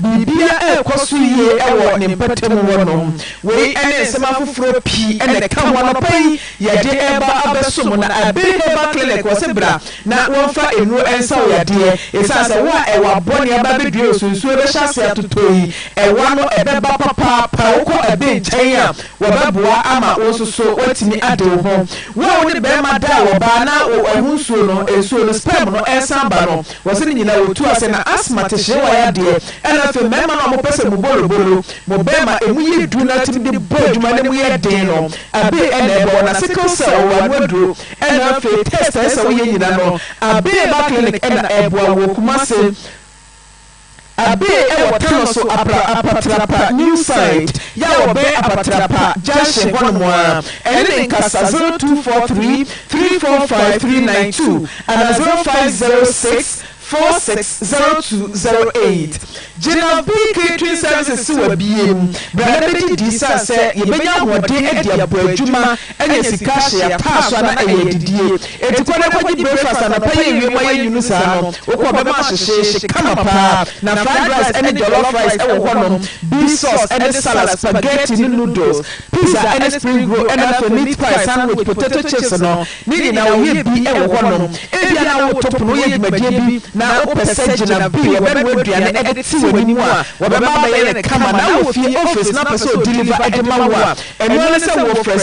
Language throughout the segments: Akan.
Biribiara rekɔ so yie wɔ ne mpɔtam hɔ nom. Wei ne nsɛm afoforɔ pii na ɛka ho. Anɔpa yi yɛde reba abɛso mo na Abay Herbal Clinic wɔ se bra na wɔmfa nnuro nsa wo yadeɛ ɛsiane sɛ wo a ɛwa bɔne aba abɛdua yi so nsuo ɛbɛhyɛ aseɛ atotɔ yi ɛwa no ɛbɛba papaapa wokɔ Abay nkyɛn a wɔbɛboa ama wo nso so woatumi ade wo ho. Wo a wo ne barima da a wɔbaa na wo ɛho nsuo no nsuo no sperm no ɛresan ba no Wɔse ne nyinaa wɔtu ase na asthma te hyeewa yadeɛ ɛna afei mmarima no a wɔpɛ sɛ mu bolobolo, mo bɛɛma ɛmu yɛ duru na tumi de bɔ adwuma na ɛmu yɛ den no abee ɛna ɛbɔ wɔn na sickle cell wɔwɔ ano aduro ɛna afei test a ɛsɛ sɛ woyɛ nyina no abee ba clinic ɛna ɛboa wɔ Kumase. Abbey wɔ Tano so apra Apatrapa New Side yɛ a wɔbɛn Apatrapa Junction hɔ nom ara. Ɛne me nkasa 0243 345 392 anaa 0506 46 0208. Gyina B Catering Services se wabue mu bra na bɛgye di san sɛ yɛbɛnya ahoɔden adi aboa adwuma Anya sika ahyɛ yɛn ataa so a na ɛyɛ adidie. Enti kɔ na kɔgye breakfast anɔpa yi awie ma yɛn nwunu saa no. Wokɔ a bɛma ahyehyeehye kama paa. Na fried rice ɛne jollof rice ɛwɔ hɔ nom, beef sauce ɛne salad, spaghetti ne noodles, pizza ɛne spring roll ɛna afei meat pie, sandwich, potato chips no ne nyinaa wɔyɛ bi ɛwɔ hɔ nom. Ebia na woreto pono, woyɛ dwumadie bi na wopɛ sɛ gyina bi wɔbɛnoa aduane ɛde te w'anim a wɔbɛma abɛyɛ no kama na wɔ fie, office, na wopɛ sɛ ɔdeliver ɛde ma wo a, Ɛno ara ne sɛ wɔfrɛ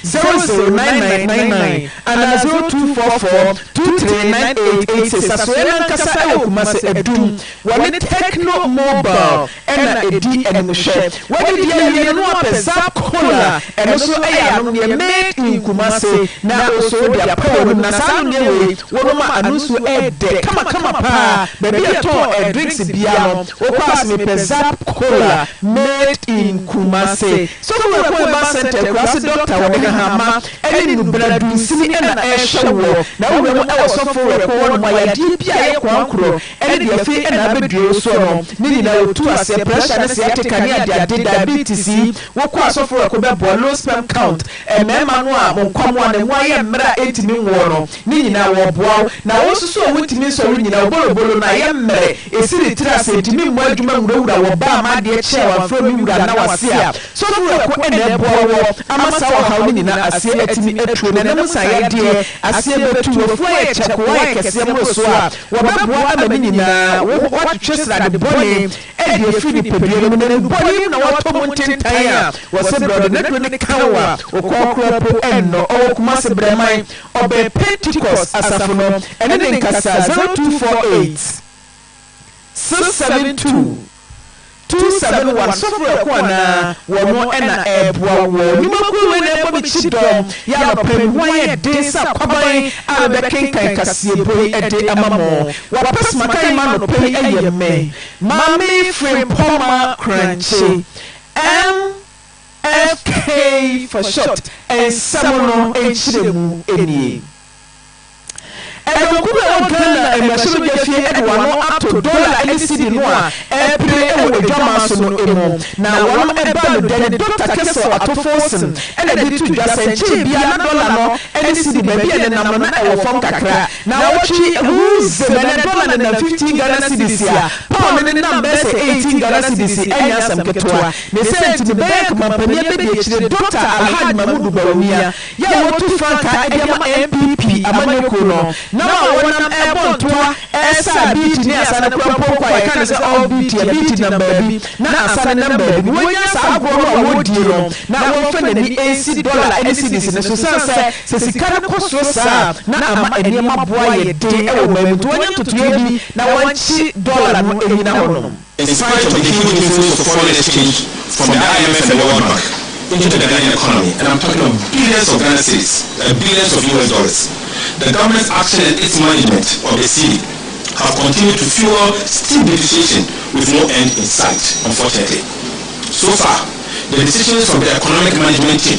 0247009999 anaa 0244239886. Asoɛeɛ no ankasa wɔ Kumase, Adum. Wɔne Tecno Mobile na ɛdi animhwɛ. Woadidi awie no na woapɛ Zap Cola, ɛno nso yɛ anomdeɛ made in Kumase, na wosɔ wode apɛ w'anom. Na saa anomdeɛ wei, Wɔnom a ano nsuo ɛɛdɛ kama kama paa baabi a ɛtɔn ɛɛ drinks biaa no wokɔ a se mepɛ zap cola made in Kumasi sɔfo wura Koeman center akura se doctor wɔde hahama ɛne nnubena dunsini ɛna ɛɛhwɛ woɔ na wowura mu ɛwɔ sɔfo wura kɔ hɔnom a yadeɛ biaa ɛyɛ koankorɔ ɛne deɛ afei ɛna abɛdue wo soɔ no ne nyinaa wɔtu aseɛ pressure ne sciatica ne adeade diabetes yi wokɔ a sɔfo wura kɔ bɛboa low sperm count Mmarima no a mo nkwammoa na emu ayɛ mmerɛ a ɛntumi nwoɔ no, ne nyinaa wɔboa wo, na wɔn nso so a wɔntumi nsɔre nnyina wo bolobolo no ayɛ mmerɛ, ɛsiri tiri ase nti me mmoa adwuma nwurawura wɔ baa ma adeɛ kye a wɔamfrɛ me wura nna w'ase a, sɔfowerɛko na ɛboa woɔ ama saa ɔhaw no nyina aseɛ atumi atuo na ɛnam nsa yadeɛ aseɛ bɛtu, w'afuo ayɛ kyɛkoo ayɛ kɛseɛ mmorosoɔ a, wɔbɛboa ama ne nyinaa, wo ho, woatwetwe srade bɔne. Ɛde afiri nipadua no mu na egu bɔne mu na wɔatɔ mu ntentan a wɔse brɛdo na duro no ka wo a wokɔɔ koraa po ɛnnɔ. Ɔwɔ Kumasi Brɛman ɔbɛn Pentecost asafo no ɛne ne nkasa zero two four eight, six seven two, two seven one Sɔfo ɛko anaa wɔno ɛna ɛɛboa woɔ Nnwuma kuo wei na ɛɛbɔ me kyi dɔm yɛ anɔpa yi me ho ayɛ den sɛ akwaban a mebɛkenkan kaseɛbɔ yi ɛde ama mo W'apɛ smakan ma nɔpa yi ɛyɛ mmɛ Mame Frimpoma Krankye MFK for short Nsɛm no nkyerɛmu nie Ɛdɔmkuw bi a ɛwɔ Ghana mmarahyɛbadwafie de w'ano ato dɔla ne sidi no a ɛrepere wɔ adwaman so no mu na wɔnom ɛba no dɛ ne Doctor Kessel Atofosin na ɛde to dwa sɛ nkyɛn biara na dɔla no ne sidi baabi a ɛnenam no na ɛwɔ fam kakra Naawɔtwe ho nsɛm, ɛnɛ dɔla nenam fifteen Ghana cedis a, pound nenam bɛyɛ sɛ eighteen Ghana cedis, ɛnyɛ asɛm ketewa. Ne sɛ nti no, Bank mampanin abɛdiakyire Doctor Alhaj Mahmudu Bawumia, yɛ a wɔatu frankaa de ama NPP amanyɔkuo no, nam a wɔnam rebɔ ntoa resa Abiiti ne Asane kura mpɔnkɔ a yɛka no sɛ Off Biiti, Abiiti nam baabi na Asane nam baabi no, wɔnnya saa agorɔ no a wɔredie no na wɔmfa n'ani nsi dɔla ne cedis no so, ɛsiane sɛ. Sɛ sika no kɔ soro saa a, na ama nneɛma bo ayɛ den wɔ ɔman mu, nti wɔnyɛ ntotoeɛ bi na wɔnkye dɔla no nnyina hɔnom. In spite of the huge inflows of foreign exchange from the IMF and the World Bank into the Ghanaian economy, and I'm talking of billions of Ghana cedis and billions of US dollars, the government's action and its management of the cedi have continued to fuel steep depreciation with no end in sight, unfortunately. So far, the decisions of the economic management team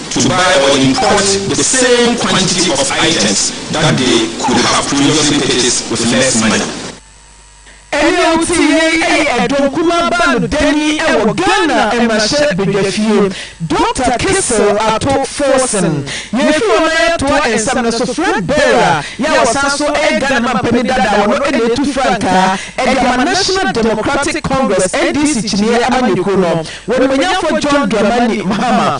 to buy or import the same quantity of items that they could have previously purchased with less money. Ɛnne a wote yei ɛyɛ ɛdɔn kumaa baa no dani ɛwɔ Ghana mmarahyɛ badwafie. Doctor Kissel Ato Forson, yɛn firi hɔ na yɛatoa nsɛm no so, Fred Beira yɛ a ɔsan so ɛyɛ Ghana mampanin dada wɔ no na ɛtu frankaa ɛde ama National Democratic Congress, NDC, kyiniiɛ amanyɔkuo no, wɔ animuonyamfoɔ John Dramani Mahama.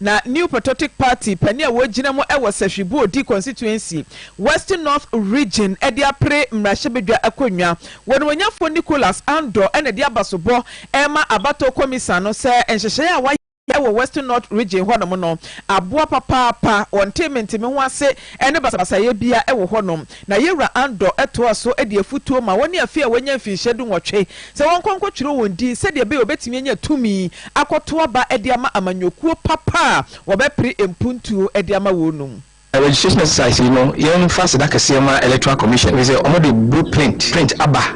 Na New Patriotic Party panin a ɔgyina mu wɔ Sahwi Boadi Constituency, Western North Region de apere mmarahyɛbadwa akonnwa. Wɔnumonyafo Nicholas Andor na de abasobɔ rema abatoɔ kɔmisan no sɛ nhyehyɛe a wɔayɛ wɔ Western North Region hɔnom no aboa papaapa, wɔnte mentemeho ase ne basabasayɛ biara wɔ hɔnom. Na Yewura Andor toaa so de afutuo maa wɔne afei a wɔanya mfirihyia dunwɔtwe sɛ wɔnkɔ nkɔtwerɛ wɔn din sɛdeɛ ɛbɛyɛ wɔbɛtumi anya tumi akɔto aba de ama amanyɔkuo papa a wɔbɛpere mpuntuo de ama wɔn no mu. Registration exercise yi no, yɛmfa aseda kɛseɛ ma Electoral Commission ɛfiri sɛ wɔde blue print print aba.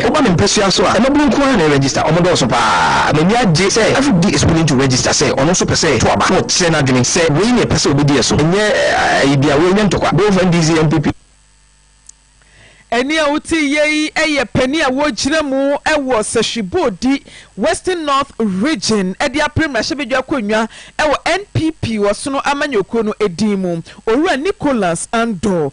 Ɛba me mpasua so a, mmabunu nko ara na ɛregyesta. Wɔdɔɔso paa. M'ani agye sɛ Everyday is willing to register sɛ ɔno nso pɛ sɛ ɔto aba na ɔkyerɛ n'adwene sɛ wei na ɔpɛ sɛ ɔbɛdi ɛso. Ɛnyɛ ayi biara. Wei nyɛ ntɔkwa. Both NDC, NPP. Ɛnne a wote yɛ yi yɛ panin a ɔregyina mu wɔ Sahwi Boadi Western North Region de apere mmarahyɛbadwa akonnwa wɔ NPP Ɔsono amanyɔkuo no din mu. Owura Nicholas Andor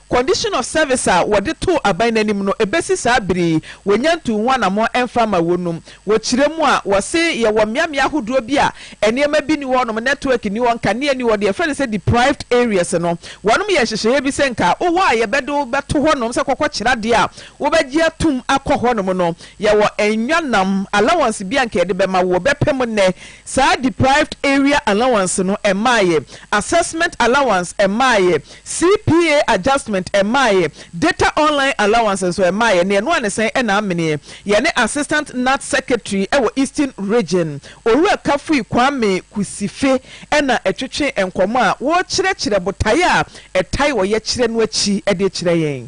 Condition of service a wɔde too aban no anim no, ɛbɛsi saa bere yi, wɔnnya ntuu ho anammɔn mfa mma wɔnum. Wɔ kyerɛ mu a, wɔse yɛwɔ mmeammea ahodoɔ bi a nneɛma bi nni hɔnom, network nni hɔ, nkanea nni hɔ, deɛ yɛfrɛ no sɛ deprived areas no. Wɔnom yɛɛ nhyehyɛeɛ bi sɛ nka wowɔ a yɛbɛde wo bɛto hɔnom sɛ kɔkɔkyerɛ adeɛ a wobɛgye atom akɔ hɔnom no. Yɛwɔ nnwannam allowance bi a nka yɛde bɛma wo. Wɔbɛpɛ mu nnɛ. Saa deprived area allowance no, ɛmmaeɛ. Assessment allowance, ɛmmaeɛ. CPA adjustment ɛmmaeɛ, Data Online Allowance nso ɛmmaeɛ, na ɛno ara ne sɛn na ameneɛ. Yɛne Assistant NATS Secretary wɔ Eastern Region, Owura Kafui Kwame Kusife na ɛtwetwee nkɔmmɔ a wɔrekyerɛkyerɛ botaeɛ a ɛtae ɔyɛkyerɛ no akyi de kyerɛ yɛn.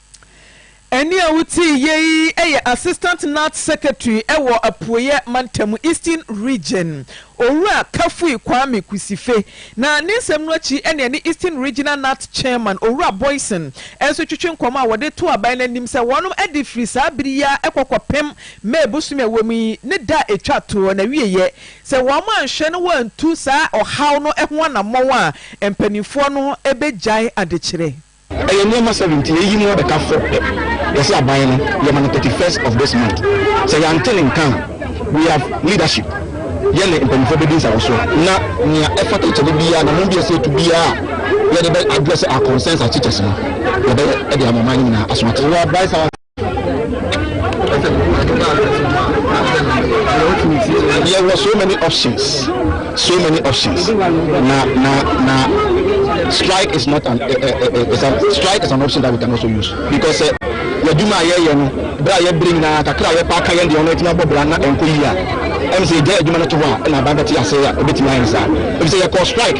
Ɛnne a wotiiɛ yi yɛ Assistant Nats Secretary wɔ Apueɛ Mantam, Eastern Region, Owura Kafui Kwame Kusife, na ne nsɛm no akyi na ɛne Eastern Regional Nats Chairman, Owura Boyson, nso twetwe nkɔmmɔ a wɔde too aban no anim sɛ wɔnom de firi saa bere yi ara kɔ kɔpem May bosome a ɛwɔ mu yi ne da a ɛtwa toɔ no awieɛ sɛ wɔanhwɛ na wɔantu saa ɔhaw no ho anammɔn a mpanimfoɔ no bɛgyae adekyerɛ. Ɛyɛ nneɛma seven nti yɛyi mu abɛka four pɛ. Yɛse aban no yɛma no thirty first of this month. Sɛ yɛante ne nka a we have leadership yɛne mpanyinfoɔ bɛdi nsawɔsoɔ. Na nea ɛfata kyɛne biara na mobi ɛsɛ yɛtu biara a yɛde bɛ address our concerns as teachers no yɛbɛyɛ de ama ɔman no nyinaa aso ate. yɛwɔ so many options so many options na na na strike is not an uh, uh, is an, strike is an option that we can also use because uh, yɛdwuma a yɛyɛ no berɛ a yɛbere nyinaa kakra a yɛpaaka yɛn deɛ ɔno atumi abɔ bra na ɛnkɔ yie a ɛm sɛ yɛgya adwuma no to hɔ a ɛna aban bɛte ase a ɛbɛtumi ayɛ saa ɛfisɛ yɛkɔɔ strike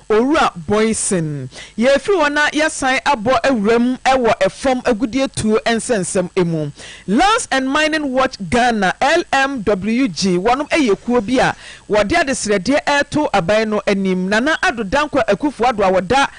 Owura Boysen, Yɛrefiri hɔ na yɛasan abɔ awura mu wɔ fam agudeɛtuo nsɛnsɛm mu. Lands and Mining Watch Ghana, LMWG, wɔnom yɛ kuo bi a wɔde adesrɛdeɛ reto aban no anim. Nana Addo Dankwa Akufo-Addo a ɔda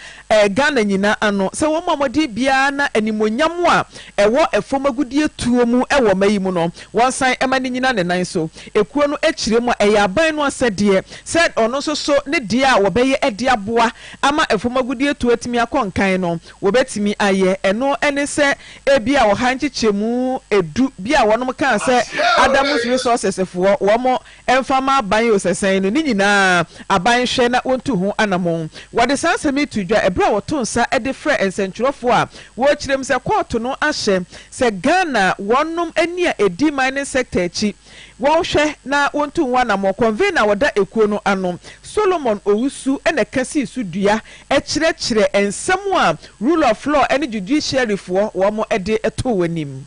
Ghana nyinaa ano sɛ wɔn a wɔdin biara na animuonyam a ɛwɔ fam agudeɛ tuo mu wɔ mma yi mu no, wɔnsan mma no nnyina ne nan so. Ekuo no kyerɛ mu a, ɛyɛ aban no asɛdeɛ sɛ ɔno nso so ne deɛ a wɔbɛyɛ de aboa ama fam agudeɛ tuo atumi akɔ nkan no, wɔbɛtumi ayɛ. Ɛno ne sɛ ebia ɔha nkyekyɛmu du bi a wɔnom kaa sɛ Adams Resources foɔ wɔn ɛmfa mma aban osasan no, ne nyinaa aban nhwɛ na wontu ho anammɔn. Wɔde saa nsɛm yi too dwa bere a wɔtoo nsa de frɛɛ nsɛnkyerɛwfo a wɔrekyerɛ mu sɛ kɔɔto no ahyɛ sɛ Ghana wɔnnom ani a edi mining sector akyi wɔnhwɛ na wontu ho anammɔn. Convener a ɔda ekuo no ano, Solomon Owusu na ɛka sii so dua kyerɛkyerɛ nsɛm a rule of law ne judiciary foɔ wɔde too anim.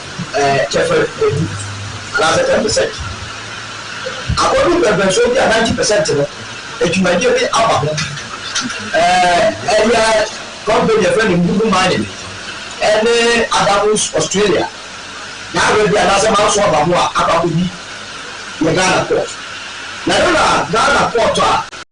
kyɛfa du anaasɛ ten percent. Akɔdu mpɛmpɛnsoɔ bi a ninety percent no adwumadeɛ bi aba ho. Ɛyɛ company yɛfrɛ no Ngugu Mining ɛne Adamus Australia yɛawerɛ bi anaasɛ manso aba ho a akɔ akɔdi yɛ Ghana port. Na ɛno na Ghana port a.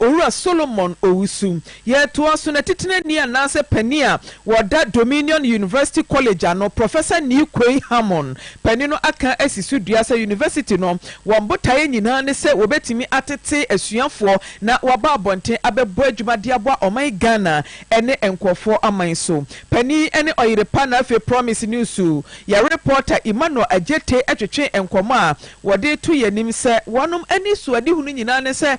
Owura Solomon Owusu yɛ toa so n'atitenani anaasɛ panin a wɔda Dominion University College ano. Professor Nii Kwei Hammon, panin no aka asi so dua sɛ University no wɔn botaeɛ nyinaa ne sɛ wɔbɛtumi atete asuafoɔ na wɔaba abɔnten abɛbɔ adwuma de aboa ɔman Ghana ne nkorɔfoɔ aman so. Panin ne ɔyere pa na afei Promise Newsu yɛ reporter Emmanuel Adjetey twetwee nkɔmmɔ a wɔde to yɛn anim sɛ wɔnom anisoadehunu nyinaa ne sɛ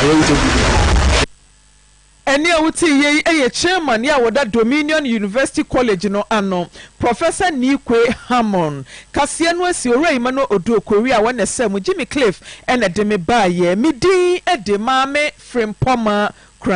Toronto Bibifo. Ɛnne a wote yei yɛ Chairman a ɔda Dominion University College no ano, Professor Nikwe Hammon. Kaseɛ no asi Owura Emmanuel Odo Okweri a ɔnɛ sɛ mo Jimmy Cliff na ɛde me baeɛ. Me din de Maame Frimpɔmaa Kura.